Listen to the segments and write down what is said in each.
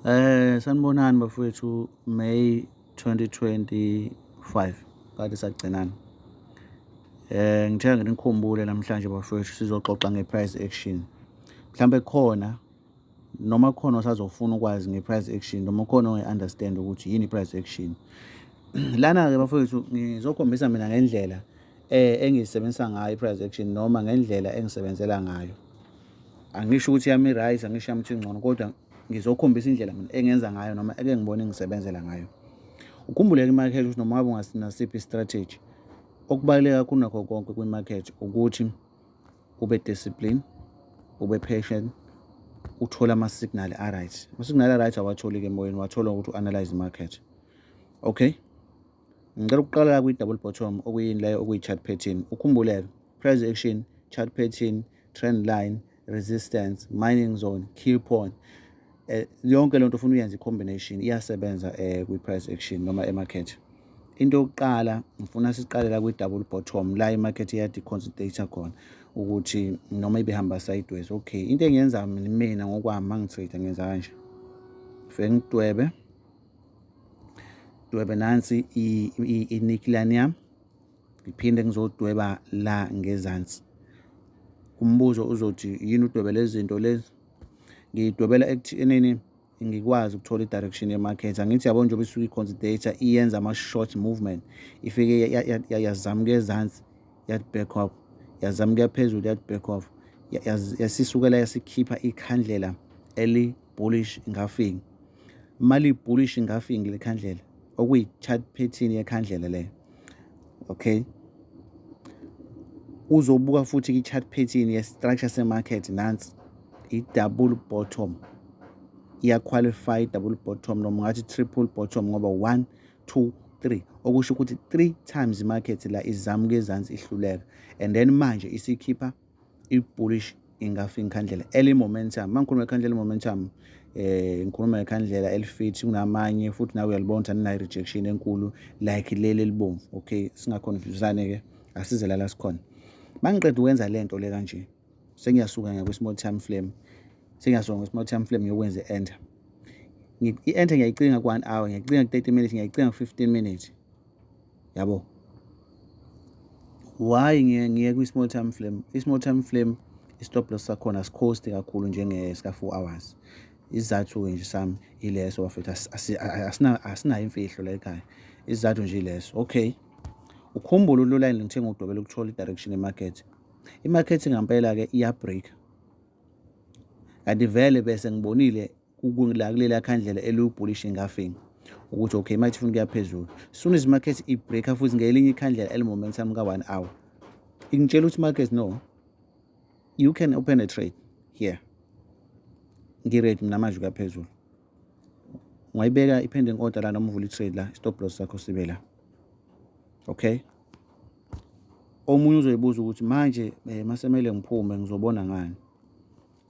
Eh sanibonani bafowethu May 2025 kade sagcinana. Eh ngithe nginikhumbule namhlanje bafowethu sizoxoxa ngeprice action. Mhlambe khona noma khona osazofuna ukwazi ngeprice action noma khona ongeunderstand ukuthi yini iprice action. Lana ke bafowethu ngizokhombisa mina ngendlela eh engisebenzisa ngayo iprice action noma ngendlela engisebenzela ngayo. angisho ukuthi yami right angisho yami ngcono kodwa ngizokhombisa indlela mina engenza ngayo noma eke ngibone ngisebenzela ngayo ukhumbuleke imarket ukuthi noma ngabe ungasinasiphi strategy okubaluleke kakhulu nakho konke kwimarket ukuthi ube discipline ube patient uthole ama-signal a-right ama-signal a-right awatholi-ke emoyeni wathola ukuthi u-analyze market okay ngicela ukuqala la kwi-double bottom okuyini leyo okuyi-chart pattern ukhumbuleke price action chart pattern trend line resistance mining zone key point eh, yonke lento ufuna uyenza i-combination iyasebenza eh, kwi-price action noma emarket into yokuqala ngifuna siqalela kwi-double bottom la imarket iyadiconsidata khona ukuthi noma ibihamba sideways okay into engiyenza mina ngokwami ma ngitrade ngenza kanje fike ngidwebe dwebe nansi inikilani yami ngiphinde ngizodweba la ngezansi umbuzo uzothi yini udwebe lezi zinto lezi ngidwebela ekuthenini ngikwazi ukuthola i-direction ye-market angithi yabo njengoba isuke i-considator iyenza ama-short movement ifike yazamka ezansi yathi back off yazamka phezulu yathi back off yasisukela yasikhipha ikhandlela eli-bullish ngafingi mali-bullish ngafingi lekhandlela okuyi-chart pattern yekhandlela leyo okay uzobuka futhi i-chart pattern ye-structure se-market nansi i-double bottom iyaqualify double bottom noma ngathi triple bottom ngoba 1 2 3 okusho ukuthi 3 times market la izama kuyezansi ihluleka and then manje isikhipha i-bullish ingafa inkhandlela early momentum uma ngikhuluma ikhandlela i-momentum um eh, ngikhuluma ngekhandlela elifithi kunamanye futhi nawe uyalibona ukuthi aninayo rejection enkulu like leli elibomvu okay singakhonfusane-ke asize lala sikhona uma ngiqeda ukwenza le nto le kanje sengiyasuka ngakwi-small time flame sengiyasuka ngakwi-small time flame ngiyokwenza i-enter i-enter ngiyayicinga ku-one hour ngiyayicinga ku-thirty minutes ngiyayicinga ku-fifteen minutes yabo why ngiye ngiye kwi small time flame i small time flame i stop loss sakhona sikhosti kakhulu njenge sika 4 hours isizathu ke nje sami ileso bafethu asina asina imfihlo la ekhaya isizathu nje ileso okay ukhumbula ululayini ngithenga udobela ukuthola i direction e market i market ngampela ke iya break kanti vele bese ngibonile kula kulela khandlela elubhulish engafing ukuthi okay manje ufuna ukuya phezulu soon as market ibreaker futhi ngelinye ikhandlela elimomentum ka-one hour ingitshela ukuthi market no you can open a trade here ngiready mina manje ukuya phezulu ungayibeka i-pending order la noma uvula i-trade la stop loss sakho sibe la okay omunye uzoyibuza ukuthi manje um masemele ngiphume ngizobona ngani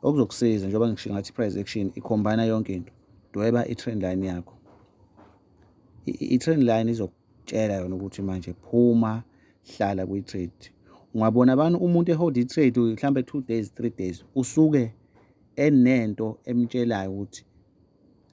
okuzokusiza njengoba ngisho ngathi i-price action ikhombana yonke into dweba i-trend line yakho i-trend line izokutshela yona ukuthi manje phuma hlala kwi-trade ungabona abantu umuntu ehold i-trade mhlawumbe two days three days usuke enento emtshelayo ukuthi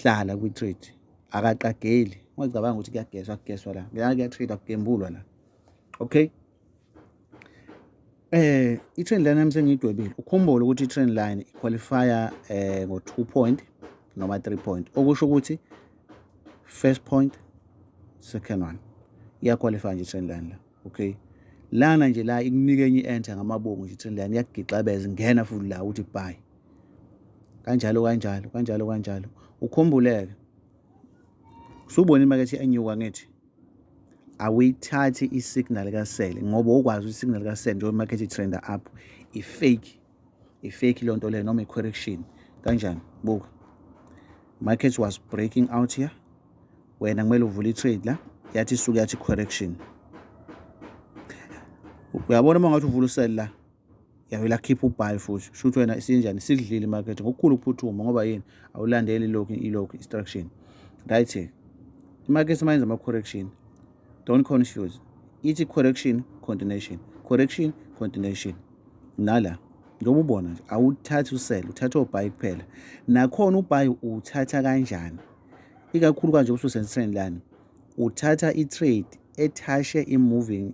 hlala kwi-trade akaqageli ungacabanga ukuthi kuyageswa kugeswa la kuyatrade akugembulwa la okay Eh i-trend line yami sengiyidwebile. Ukhumbule ukuthi i-trend line iqualifya eh ngo-2 point noma 3 point okusho ukuthi first point second one iyaqualify nje i-trend line la okay lana nje la ikunika enye i-enter ngamabongo nje i-trend line iyakugixabeza ingena futhi la ukuthi buy kanjalo kanjalo kanjalo kanjalo ukhumbuleke usubona imakethe enyuka ngithi awuyithathi i-signal kasele ngoba ukwazi ukuthi i-signal kasele njengoba imakethe itrenda up i-fake i-fake leyo nto leyo noma i-correction kanjani buka market was breaking out here wena kumele uvule i-trade la yathi isuke yathi correction uyabona uma ngathi uvula usele la yavele akhipha ubhayi futhi shuthi wena isinjani sidlile imarket ngokukhulu ukuphuthuma ngoba yini awulandeli ilokhu ilokhu instruction right imarket mayenza ama-correction don't confuse ithi correction continuation correction continuation nala njengoba ubona nje awuthathi usele uthatha obhayi kuphela nakhona ubhayi uwuthatha kanjani ikakhulu kanje ususentrend lani uthatha i-trade ethashe i-moving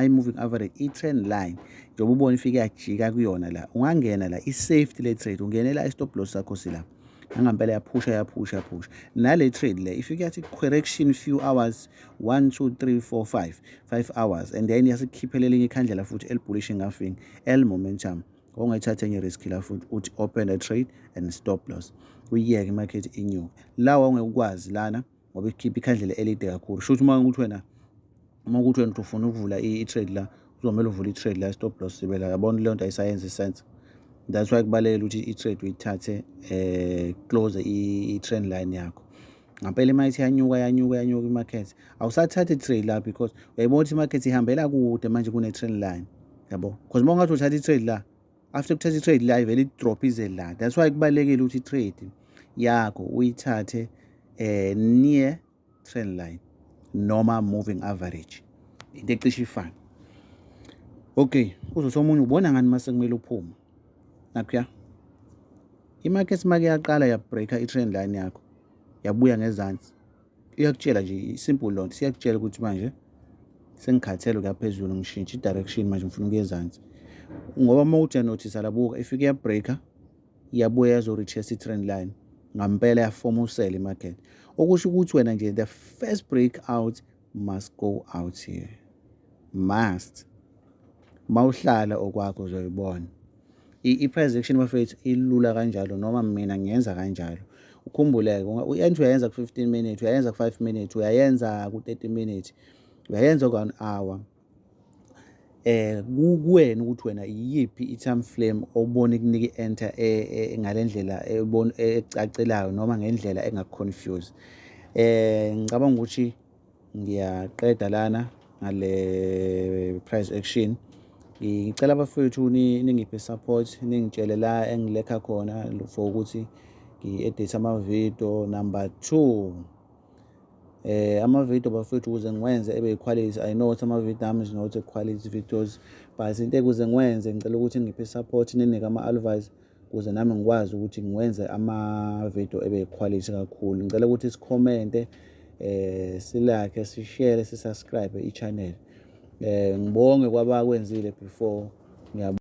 i-moving average i-trend line njengoba ubona ifike yajika kuyona la ungangena la i-safety le trade ungenela i-stop loss sakho sila nangampela yaphusha yaphusha yaphusha nale trade le ifike yathi correction few hours 1 2 3 4 5 5 hours and then yasikhiphela elinye ikhandlela futhi elibhulish ngafing el momentum ongayithatha enye risk la futhi uthi open a trade and stop loss uyiyeke imarket inyuke lawa ongeke ukwazi lana ngoba ikhipha ikhandlela elide kakhulu shuthi uma ukuthi wena uma ukuthi wena ufuna ukuvula i-trade la uzomele uvule i-trade la stop loss sibe la yabona leyo nto ayisayenza isense that's why kubalekela ukuthi i-trade uyithathe eh close i-trend line yakho ngampela imali ithi yanyuka yanyuka yanyuka i-market awusathathi i-trade la because uyayibona ukuthi i-market ihambela kude manje kune-trend line yabo because uma ungathi uthatha i-trade la after kuthatha i-trade la ivele i-drop ize la that's why kubalulekile ukuthi i-trade yakho uyithathe eh near trend line noma moving average into ecishe ifane okay uzothi omunye ubona ngani uma sekumele uphume nakhuya imarket make yaqala yabreaker i-trend line yakho yabuya ngezansi iyakutshela nje isimple lonto siyakutshela ukuthi manje sengikhathele ukuya phezulu ngishintshe i-direction manje ngifuna ukuya ezansi ngoba uma uthi yanothisa labuka ifike yabreaker iyabuya yazo-retest i-trend line ngampela yafoma usele i-market okusho ukuthi wena nje the first break out must go out here must mawuhlala okwakho uzoyibona i-price action bafethu ilula kanjalo noma mina ngiyenza kanjalo ukhumbuleke u-entry uyayenza ku-15 minutes uyayenza ku-5 minutes uyayenza ku-30 minutes uyayenza ku-one hour eh kuwena ukuthi wena iyiphi i-time frame obona ikunika i-enter e, e, ngale ndlela ecacelayo noma ngendlela engakuconfuse eh ngicabanga ukuthi ngiyaqeda lana ngale price action ngicela abafowethu ningiphe support ningitshele la engilekha khona for ukuthi ngi-edithe amavidiyo number two eh amavidiyo bafethu ukuze ngiwenze ebe yiquality i know ukuthi amavidiyo ami is not a quality videos but into ekuze ngiwenze ngicela ukuthi ngiphe support ninike ama-advice ukuze nami ngikwazi ukuthi ngiwenze ama-video ebe yikhwalithi kakhulu ngicela ukuthi sikhomente eh silakhe sishare sisubscribe i-channel eh ngibonge kwabakwenzile before ngiyabonga